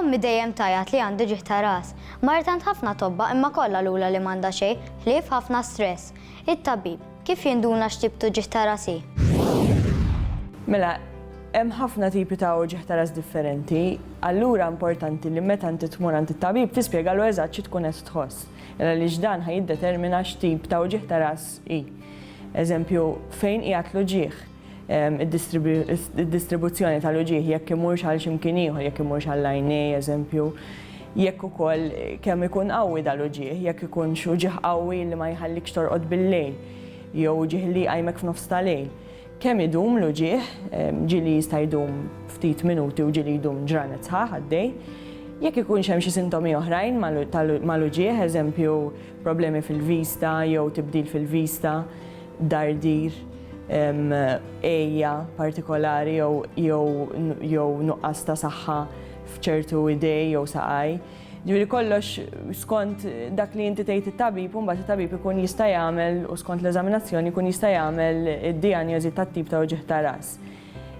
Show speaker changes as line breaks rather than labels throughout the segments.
Ommi dejjem tgħajjat li għandi ġieħ ta' ras. Marret għand ħafna tobba imma kollha qalulha li m'għandha xejn, ħlief ħafna stress. It-tabib, kif jinduna x'tip tu ġieħ ta' ras hi?
Mela, hemm ħafna tipi ta' uġigħ ta' ras differenti, allura importanti li meta inti tmur għand it-tabib tispjegalu eżatt xi tkun qed tħoss, għaliex dan ħa jiddetermina x'tip ta' uġigħ ta' ras hi. Eżempju, fejn qiegħed l-uġigħ? id-distribuzzjoni tal-uġigħ jekk imurx għal xi mkien ieħor, jekk imurx għall-għajnej, eżempju, jekk ukoll kemm ikun qawwi dal-uġigħ, jekk ikunx uġigħ qawwi li ma jħallikx torqod bil-lejl, jew uġigħ li jqajmek f'nofs ta' lejl. Kemm idum l-uġigħ, ġieli jista' jdum ftit minuti u ġieli jdum ġranet sħaħ għaddej. Jekk ikunx hemm xi sintomi oħrajn mal-uġigħ, eżempju, problemi fil-vista jew tibdil fil-vista. dardir, għejja partikolari jew nuqqas ta' saħħa f'ċertu idej jew saqaj. Ġifieri kollox skont dak li inti tgħid it-tabib u mbagħad it-tabib ikun jista' jagħmel u skont l-eżaminazzjoni jkun jista' jagħmel id-dijanjosi tat-tip ta' uġigħ ta' ras.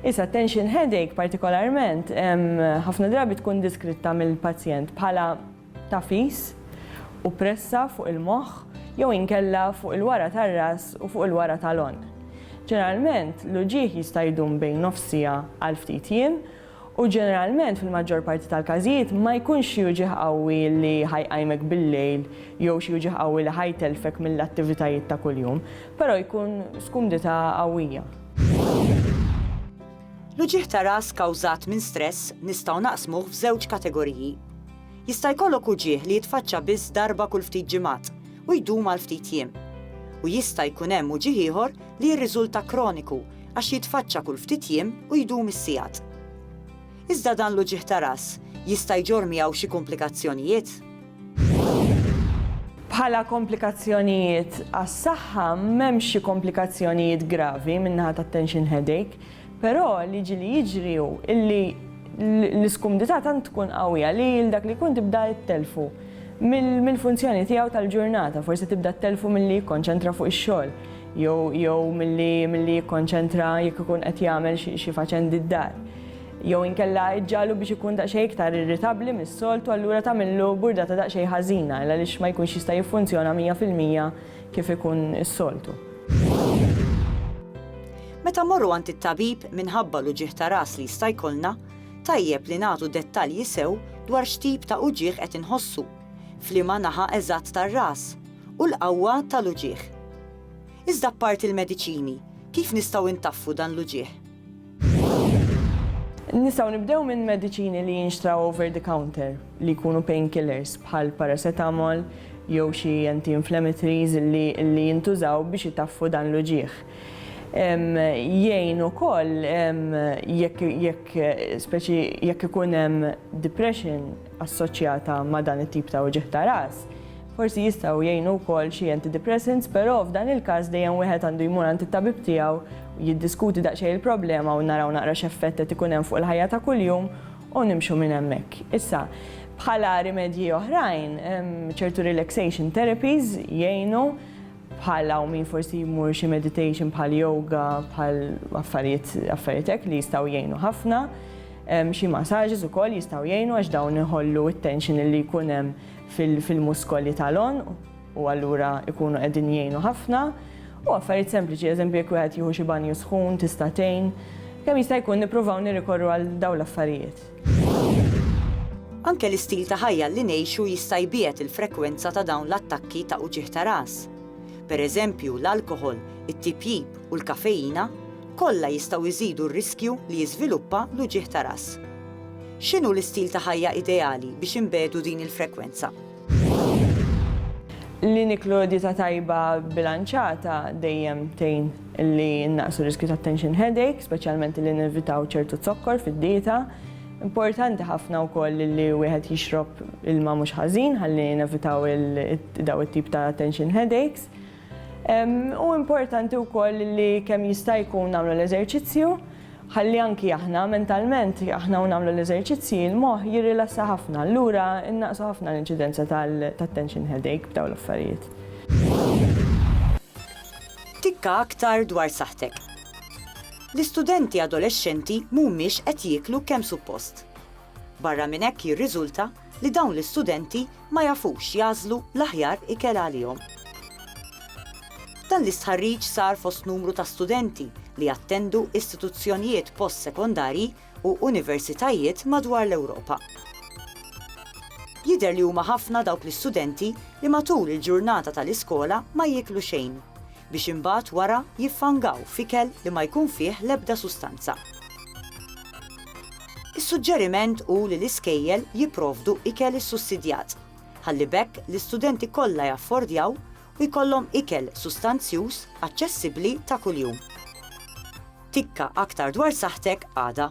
Issa tension headache partikolarment ħafna drabi tkun diskritta mill-pazjent bħala tagħfis u pressa fuq il-moħħ jew inkella fuq il-wara tar-ras u fuq il-wara tal-għonq. Ġeneralment, l-uġigħ jista' jdum bejn nofs siegħa għal ftit jiem, u ġeneralment fil-maġġor parti tal-każijiet ma jkunx xi uġigħ qawwi li ħa jqajmek bil-lejl jew xi uġigħ qawwi li ħa jtellfek mill-attivitajiet ta' kuljum, però jkun skumdità qawwija.
L-uġigħ ta' ras kawżat minn stress nistgħu naqsmuh f'żewġ kategoriji. Jista' jkollok uġigħ li jitfaċċa biss darba kull ftit ġimgħat u jdum għal ftit jiem. U jista' jkun hemm uġigħ ieħor li jirriżulta kroniku għax jitfaċċa kull ftit jiem u jdum is-sigħat. Iżda dan l-uġigħ ta' ras jista' jġorr miegħu xi kumplikazzjonijiet?
Bħala komplikazzjonijiet għas-saħħa m'hemmx xi komplikazzjonijiet gravi min-naħa tat-tension headache, Però li ġieli jiġri hu illi l-iskumdità tant tkun qawwija li lil dak li jkun tibda ittelfu mill-funzjoni tiegħu tal-ġurnata, forsi tibda ttelfu milli jikkonċentra fuq ix-xogħol jew milli jikkonċentra jekk ikun qed jagħmel xi faċendi d-dar. Jew inkella iġġagħlu biex ikun daqsxejn iktar irritabbli mis-soltu allura tagħmillu burdata daqsxejn ħażina għaliex ma jkunx jista' jiffunzjona mija fil-mija kif ikun is-soltu.
Meta mmorru għand it-tabib minħabba l-uġigħ ta' ras li jista' jkollna, tajjeb li nagħtu dettalji sew dwar x'tip ta' uġigħ qed inħossu, f'liema naħa eżatt tar-ras, u l-qawwa tal-uġigħ. Iżda apparti l-mediċini, kif nistgħu intaffu dan l-uġigħ?
Nistgħu nibdew minn mediċini li jinxtraw over the counter, li jkunu pain killers, bħal paracetamol jew xi anti-inflammatories li jintużaw biex itaffu dan l-uġigħ. Jgħin ukoll jekk jekk speċi jekk ikun hemm depression assoċjata ma' dan it-tip ta' wġigħ ta' ras. Forsi jistgħu jgħinu wkoll xi antidepressants, però f'dan il-każ dejjem wieħed għandu jmur għand it-tabib tiegħu, jiddiskuti daqsxejn il-problema u naraw naqra x'effett qed ikun hemm fuq il-ħajja ta' kuljum u nimxu minn hemmhekk. Issa, bħala rimedji oħrajn, ċertu relaxation therapies jgħinu, bħal hawn min forsi jmur xi meditation bħal yoga bħal affarijiet affarijiet hekk li jistgħu jgħinu ħafna. Xi massages ukoll jistgħu jgħinu għax dawn iħollu t-tension li jkun hemm fil-muskoli tal-għonq u allura jkunu qegħdin jgħinu ħafna. U affarijiet sempliċi, eżempju jekk wieħed jieħu xi banju sħun tista' tgħin. Kemm jista' jkun nippruvaw nirrikorru għal dawn l-affarijiet.
Anke l-istil ta' ħajja li ngħixu jista' jbiegħed il-frekwenza ta' dawn l-attakki ta' uġigħ ta' ras. Per eżempju, l-alkoħol, it-tipjip u l-kafeina kollha jistgħu jżidu r-riskju li jiżviluppa l-uġigħ ta' ras. X'inhu l-istil ta' ħajja ideali biex inbiegħdu din il-frekwenza?
Li niklu dieta tajba bbilanċata dejjem tgħin li nnaqsu r-riskju ta' tension headache, speċjalment li nevitaw ċertu zokkor fid-dieta. Importanti ħafna wkoll li wieħed jixrob ilma mhux ħażin ħalli nevitaw dawn it-tip ta' tension headaches. Hu importanti wkoll li kemm jista' jkun nagħmlu l-eżerċizzju ħalli anki aħna mentalment aħna u nagħmlu l-eżerċizzji l-moħħ jirrilassa ħafna allura nnaqqsu ħafna l-inċidenza tat-tension headache b'dawn l-affarijiet.
Tikka aktar dwar saħħtek. L-istudenti adolexxenti mhumiex qed jieklu kemm suppost. Barra minn hekk jirriżulta li dawn l-istudenti ma jafux jagħżlu l-aħjar ikel għalihom. Dan l-istħarriġ sar fost numru ta' studenti li jattendu istituzzjonijiet post-sekondarji u universitajiet madwar l-Ewropa. Jidher li huma ħafna dawk l-istudenti li matul il-ġurnata tal-iskola ma jieklu xejn, biex imbagħad wara jiffangaw f'ikel li ma jkun fih l-ebda sustanza. Is-suġġeriment hu li l-iskejjel jipprovdu ikel issussidjat, ħalli b'hekk l-istudenti kollha jaffordjaw u jkollhom ikel sustanzjuż aċċessibbli ta' kuljum. Tikka aktar dwar saħħtek għada.